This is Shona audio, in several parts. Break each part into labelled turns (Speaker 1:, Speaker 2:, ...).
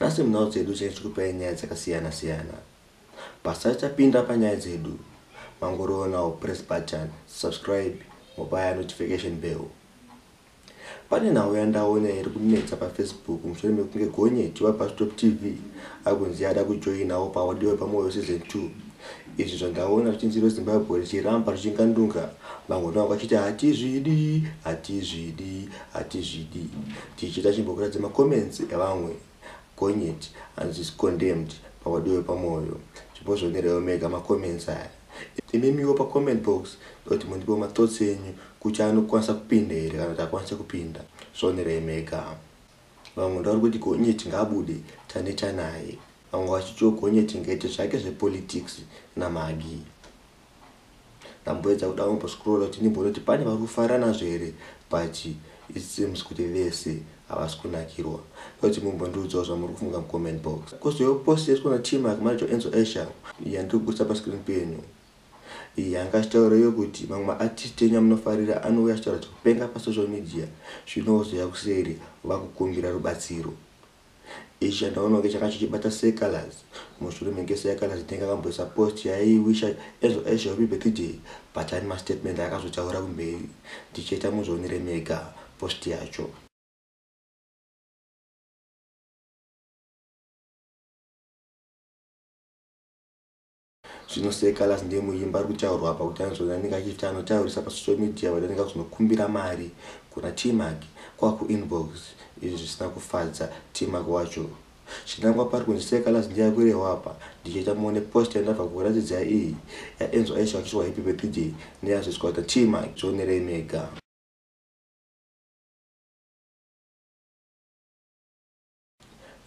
Speaker 1: Nhasi munhau dzedu tinenge tichikupai nyaya dzakasiyana siyana. Pasisati tapinda panyaya dzedu, mangoroonawo press button, subscribe mobaya notification bell. Pane nhau yandaona iri kunetsa paFacebook mushure mekunge gonyeti waBustop TV akunzi ada kujoinawo paAudio Pamoyo Season 2. Izvi zvandaona ruzhinji rweZimbabwe ruchiramba ruchingandunga mangono angu achiti hatizvidi, hatizvidi, hatizvidi. Tichida chimbokuratidza macomments evamwe gonyeti anonzi condemned paOdio yepamoyo. Chimbozvioneraiwo mega macomments aya. Imimiwo pacomment box ndoti mundipewo mathoughts enyu kuti anokwanisa kupinda here kana kuti hakwanise kupinda. Zvionerai mega. Vamwe ndauri kuti Gonyeti ngaabude taneta naye. Vamwe vachitiwo Gonyeti ngaite zvake zvepolitics naMaggie. Ndamboedza kuda kumbo scroller kuti ndimboona kuti pane vari kufara nazvo here but it seems kuti vese havasi kunakirwa. Ndoda kuti mumbondiudzawo zvamuri kufunga mucomment box. Kozotiwo post yaitwa naTmac manager waEnzo Asher yandiri kubudisa pascreen penyu. Yanga achitaura iyo kuti mamwe ma artist enyu amunofarira anouya achitaura zvekupenga pa social media zvino ozouya kuseri vakukumbira rubatsiro. Ichi chandaona kunge changa chichibata Sir Calaz. Mushure menge Sir Calaz ndenge akamboisa post yaiyi wisha Enzo Ashe happy birthday but ane ma statement aakazotaura kumberi. Ndichaita muzvionere mega post yacho. Zvino Sir Callas ndiye muimbi ari kutaurwa apa kuti anozviona anenge achiti anotaurisa pasocial media vati anenge akuzonokumbira mari kuna Tmac kwakuinbox izvi zvisina kufadza Tmac wacho. Chinangwa pari kunzi Sir Callas ndiye ari kurehwa apa ndichaita muone post yandabva kukuratidza iyi yaEnzo Aisha vachiswa Happy Birthday neyazoiswa naTmac zvionerei mega.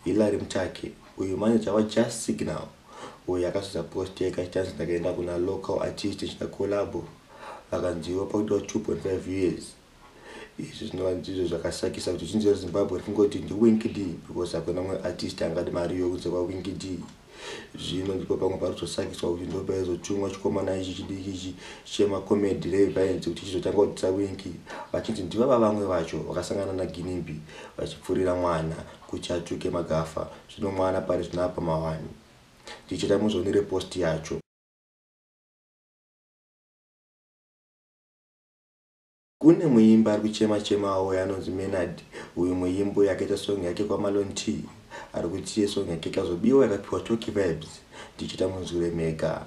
Speaker 1: Hillary Mtaki, uyu manager waJust Signal uyo akazodza post yake achinzi ndakaenda kuna local artist ndichida collabo vakanziwo pakudiwa 2.5 years. Izvi zvinova ndizvo zvakasakisa kuti zhinji reZimbabwe rifungoti ndiWinky Dee because hakuna mumwe artist angade mari iyo kunze kwaWinky Dee. zvino ndipo pamwe paritosangiswa kuti ndo paizotumwa chikomana ichi chidiki ichi chemacomedy reviance kuti chizotanga kudzisa winki vachinzi ndivava vamwe vacho vakasangana naginimbi vachipfurira mwana kuti atuke magafa zvino mwana pari zvino apa mawani ndichita muzoni repost yacho Kune muimbi ari kuchema chema auya anonzi Menard uyu muimbi uyu akaita song yake kwaMalon T ari kuti iye song yake ikazobiwa yakapiwa Tocky Vibes ndichita munzwire mega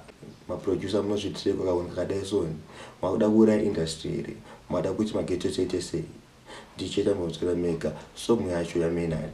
Speaker 1: maproducer munozviitirei kwakahuni kakadai soni makuda kuuraya industry here mada kuti maghetto tiite sei ndichita munzwira mega song yacho yaMenard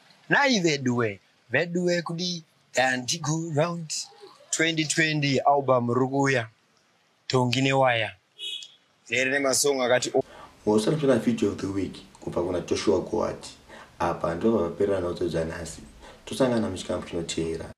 Speaker 2: Nai veduwe, veduwe kudii Dandi go round 2020 album rukuya tongi newaya rere nemasong akati o Mosara tona
Speaker 1: video of the week kubva kuna Joshua Goat apa ndipo pavaperera nhaudzo dzanhasi tosangana muchikamu chinoteera.